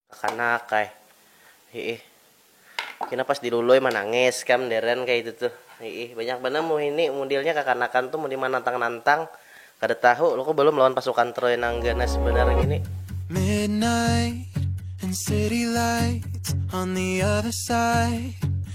Kakanak ai. Hiih. Kina pas di luloi manangis kam deren kaya itu tuh. Hiih. Banyak banar muhini mudilnya kakanakan tuh mun di manantang nantang. Kada tahu loko balum lawan pasukan troy nang ganas banar ngini. Midnight and city lights on the other side.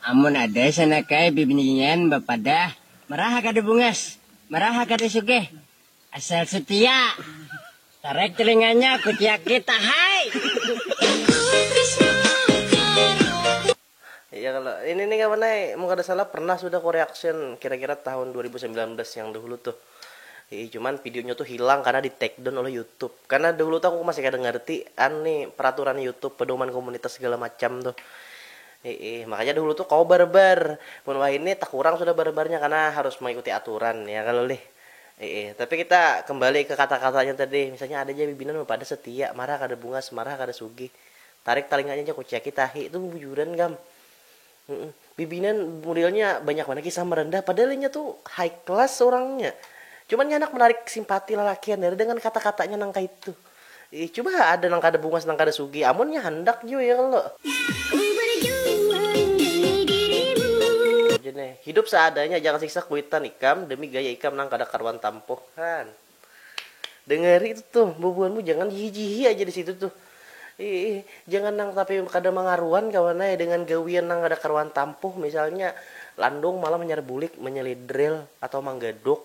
Amun ada sanakai bibinian bapadah maraha kada bungas, maraha kada sugih, asal setia, tarek telinganya kuciak kita hai. Iya kalo ini nih kawan ai, mun kada salah pernah sudah ku reaction kira-kira tahun dua ribu sambilan belas yang dahulu tuh. Hihi cuman videonya tuh hilang karena di take down oleh YouTube. Karena dahulu tuh aku masih kada ngarti an nih peraturan YouTube, pedoman komunitas segala macam tuh. Iih, makanya dahulu tuh kawa barebar. Mun wahini takurang sudah barebarnya karena harus mengikuti aturan, ya kalo lih? Iih, tapi kita kembali ke kata-katanya tadi, misalnya ada ja bibinan bapadah setia, marah kada bungas, marah kada sugih. Tarik talinganya ja kuciaki tahi, itu bubujuran gam. Humm, bibinan modelnya banyak banar kisah merendah, padahal inya tu high class urangnya. Cuman nya handak menarik simpati lalakian dari dengan kata-katanya nang kaitu. Ih cuba ha ada nang kada bungas nang kada sugih amun nya handak jua ya kalo. Ku berjuang demi dirimu. Aja neh, hidup seadanya jangan siksa kuitan ikam demi gaya ikam nang kada karuan tampoh. Han. Dengeri itu tuh bubuhanmu jangan jihi-jihi aja disitu tuh. Iih, jangan nang tapi kada mangaruan kawan ai dengan gawian nang kada karuan tampoh misalnya landung malam hanyar bulik menyelidril atau manggaduk.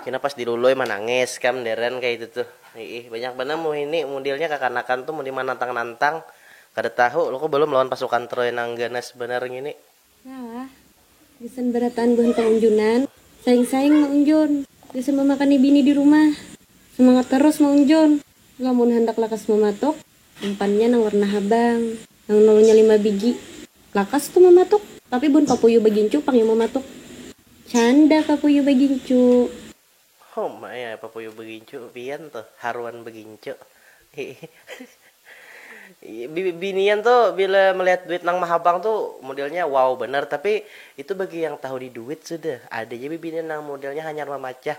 Kena pas di luloi manangis kam deren kaya itu tuh iih banyak banar muhini mudilnya kakanakan tuh mun di manantang nantang kada tahu loko balum lawan pasukan troy nang ganas banar ngini. Nah, gasan barataan buhan paunjunan, saing saing maunjun, gasan mamakani bini di rumah, samangat tarus maunjun, lamun handak lakas mamatuk, Umpannya nang warna habang. Nang nulunya lima bigi. Lakas tu mamatuk. Tapi bun papuyu bagincu pang yang mamatuk. Canda papuyu bagincu. Uma ya papuyu bagincu pian tu haruan bagincu. Iih. Binian tu bila melihat duit nang mahabang tu modelnya wow banar tapi itu bagi yang tahu di duit sudah ada ja bibinian nang modelnya hanyar mamacah.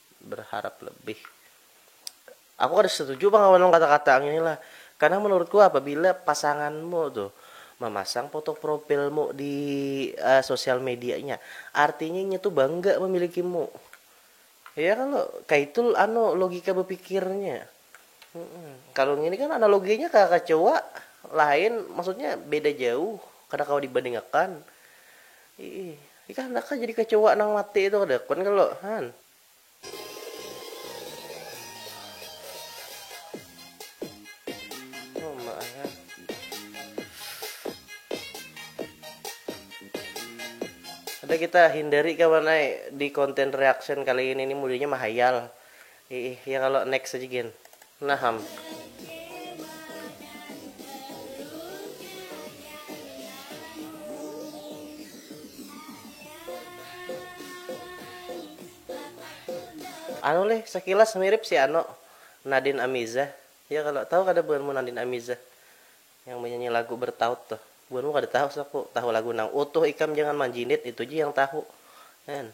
berharap lebih. Aku kada setuju pang lawan kata-kata ngini lah, karena menurutku apabila pasanganmu tuh memasang foto profilmu di uh, sosial medianya, artinya inya tuh bangga memilikimu. Ya kalau kayak itu anu logika berpikirnya. Kalau ngini kan analoginya ka kacoa lain maksudnya beda jauh kada kawa dibandingakan. Ih, ikah handak kah jadi kacoa nang mati itu kada kun kalo han. Sudah kita hindari kawan ai di konten reaction kali ini ni mudanya mahayal. Iih ya kalo next aja gin. Nah ham. Anu lih sekilas mirip si ano Nadine Amiza ya kalo tahu kada buhanmu Nadine Amiza yang menyanyi lagu bertaut tuh buhanmu kada tahu saku tahu lagu nang utuh ikam jangan manjinit itu ja yang tahu en.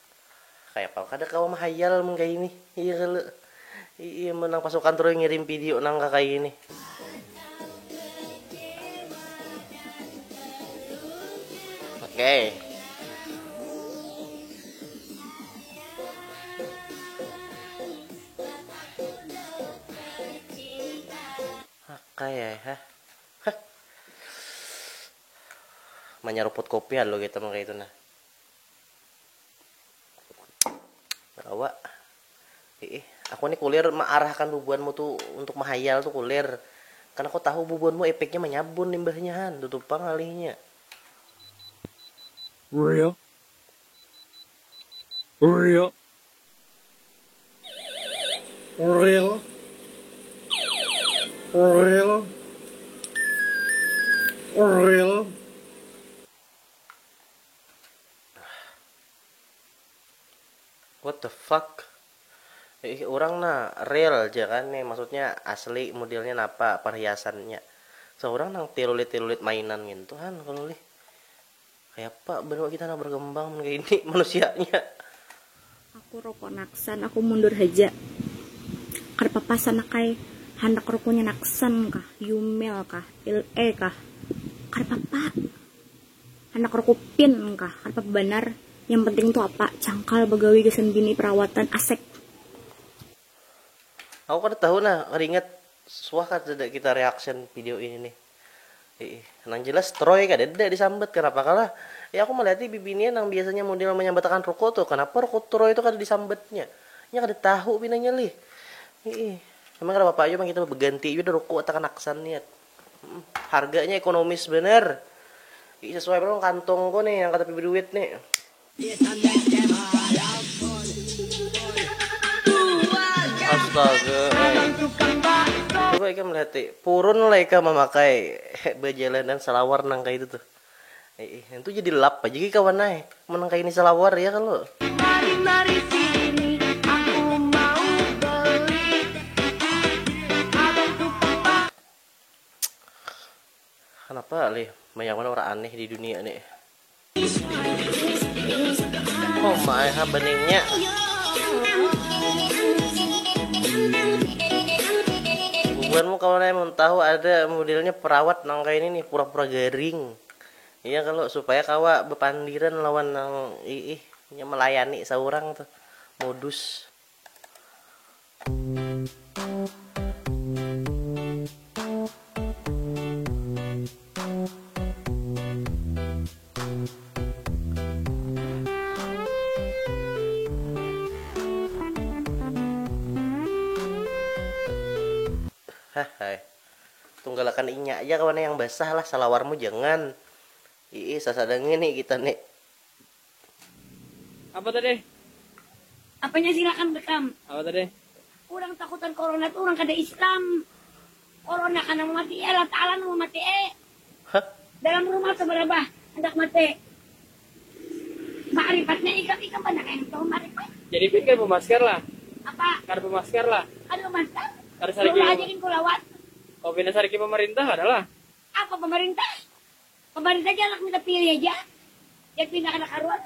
Kaya pang kada kawa mahayal mun kaya ini iya kalo iya menang pasukan troy ngirim video nang ka kaya ini. Okey. Okey ay ha. Manyaruput kopi alu kita mangkaya itu nah. Awa. Ih, aku ni kulir mearahkan bubuanmu tu untuk mahayal tu kulir. Kan aku tahu bubuanmu epeknya menyabun limbahnya han, tutu pang ngalihnya. Riak. Riak. Ril. Ril. Ril. What the fuck? Ih, orang na real aja kan nih, maksudnya asli modelnya napa perhiasannya. Seorang nang tirulit-tirulit mainan gitu kan kalau lih. Kayak apa benua kita nang berkembang kayak ini manusianya. Aku rokok naksan, aku mundur haja. Kada papa sanakai, handak rokonya naksan kah, yumel kah, il e kah. Kada papa. Handak rakupin kah atap banar yang penting tu apa cangkal bagawi gasan bini perawatan asek. Aku kada tahu nah kada ingat suah kah tidak kita reaction video ini nih iih nang jelas troy kadada disambat kanapa kah lah iih aku maliati bibinian nang biasanya model manyambatakan ruko tuh kanapa ruko troy tuh kada disambatnya inya kada tahu pinanya lih iih emang kada papa jua pang kita baganti jua dah ruko takanaksan niat. Harganya ekonomis banar. Ih sesuai banar lawan kantungku nih yang katapi baduit nih. Astaga ai. Coba ikam lihat ai. Purun lah ikam mamakai bajalanan salawar nang kaya itu tuh. Iih, ngintu jadi lap aja gih kawan ai, mun nang kayani salawar ya kalo. Mari mari sini aku mau beli abang ku papa. Kanapa lih banyak banar urang aneh di dunia ni. Uma ai ha beningnya. Bubuhanmu kawan ai mun tahu ada modelnya perawat nang kayani ni. Pura-pura garing iya kalu supaya kawa bapandiran lawan nang iih nya malayani saurang tuh modus. Hahhai. Tunggalakan inya aja kawan yang basah lah salawarmu jangan. Iih sasada ngini kita ni. Apa tadi? Apanya silakan bekam. Apa tadi? Urang takutan corona tu urang kada islam. Corona kana mamati e Allah taala nang mamati e. Hah? Dalam rumah tu barabah handak mati. Maaripatnya ikam ikam banar ai nang tahu maaripat. Jadi pin kada bamasker lah. Apa? Kada bamasker lah. Kada bamasker? Kada sariki. Baulah aja gin ku lawan. Oh pina sariki pamarintah kada lah. Apa pamarintah? Pamarintah ja handak minta pilih aja. Jar pina kada karuan.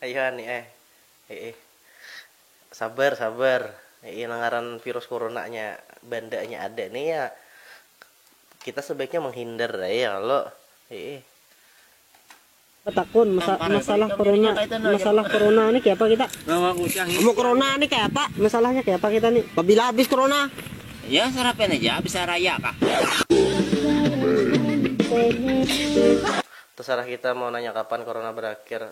Ayuha ni eh. Hihi. Sabar sabar. Hihi nang ngaran virus kuruna nya banda nya ada ni ya kita sebaiknya menghindar ai ya kalo. Hihi. Betakun, masalah kuruna, masalah kuruna ni kayapa kita? Amun kuruna ni kayapa? Masalahnya kayapa kita ni? Pabila habis kuruna? Ya sarapan aja habis hari raya kah. Tasarah kita mau nanya kapan kuruna berakhir.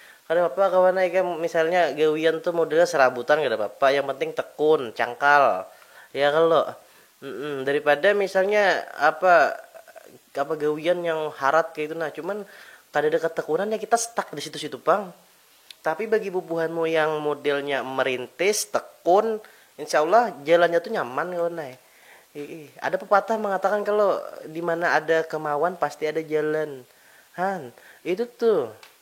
Kada papa kawan ai ikam misalnya gawian tu modelnya serabutan kada papa yang penting tekun, cangkal, ya kalo daripada misalnya apa apa gawian yang harat kaya itu nah cuman kadada ketekunan ya kita stuck di situ situ pang tapi bagi bubuhanmu yang modelnya merintis tekun insya allah jalannya tu nyaman kawan ai iih ada pepatah mengatakan kalo dimana ada kemauan pasti ada jalan han itu tuh.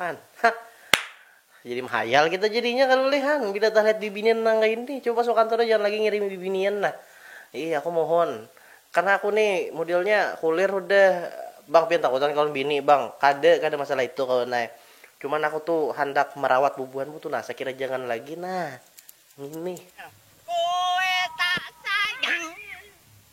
Han, hah. Jadi mahayal kita jadinya kalu leh han, bila talihat bibinian nang kaya ini. Coba pas bakantor nih jangan lagi ngirimi bibinian nah. Ih aku mohon. Karna aku nih modelnya kulir hudah bang pian takutan kawan bini bang. Kada, kada masalah itu kawan ai. Cuman aku tu handak marawat bubuhanmu tu nah, sakira jangan lagi nah. Ngini. Kue tak sayang.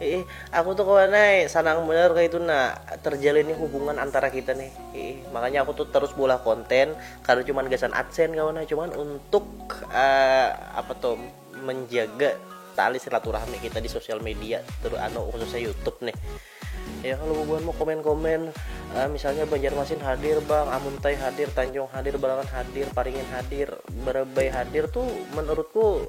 Iih, aku tuh kawan ai, sanang banar kaitu nah terjalinnya hubungan antara kita nih. Iih, makanya aku tuh terus bolah konten, kada cuman gasan adsen kawan ai, cuman untuk uh, apa tuh menjaga tali silaturahmi kita di sosial media, terus anu khususnya YouTube nih. Ya kalau bubuhan mau komen-komen, uh, misalnya Banjarmasin hadir bang, Amuntai hadir, Tanjung hadir, Balangan hadir, Paringin hadir, Barabai hadir tuh menurutku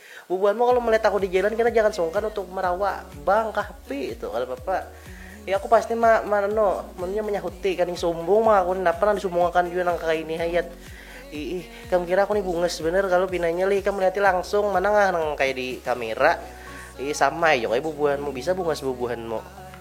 Bubuhan mu kalo melihat aku di jalan kena jangan sungkan untuk merawa bang kah pi itu kada papa ya aku pasti ma ma anu manunya manyahuti kaning sumbung bang aku ni napa nang disumbungakan jua nang kaya ini hayat iih ikam kira aku ni bungas banar kalu pinanya lih ikam melihati langsung mana ngah nang kaya di kamera iih sama ai jua kaya bubuhan mu bisa bungas bubuhan mu.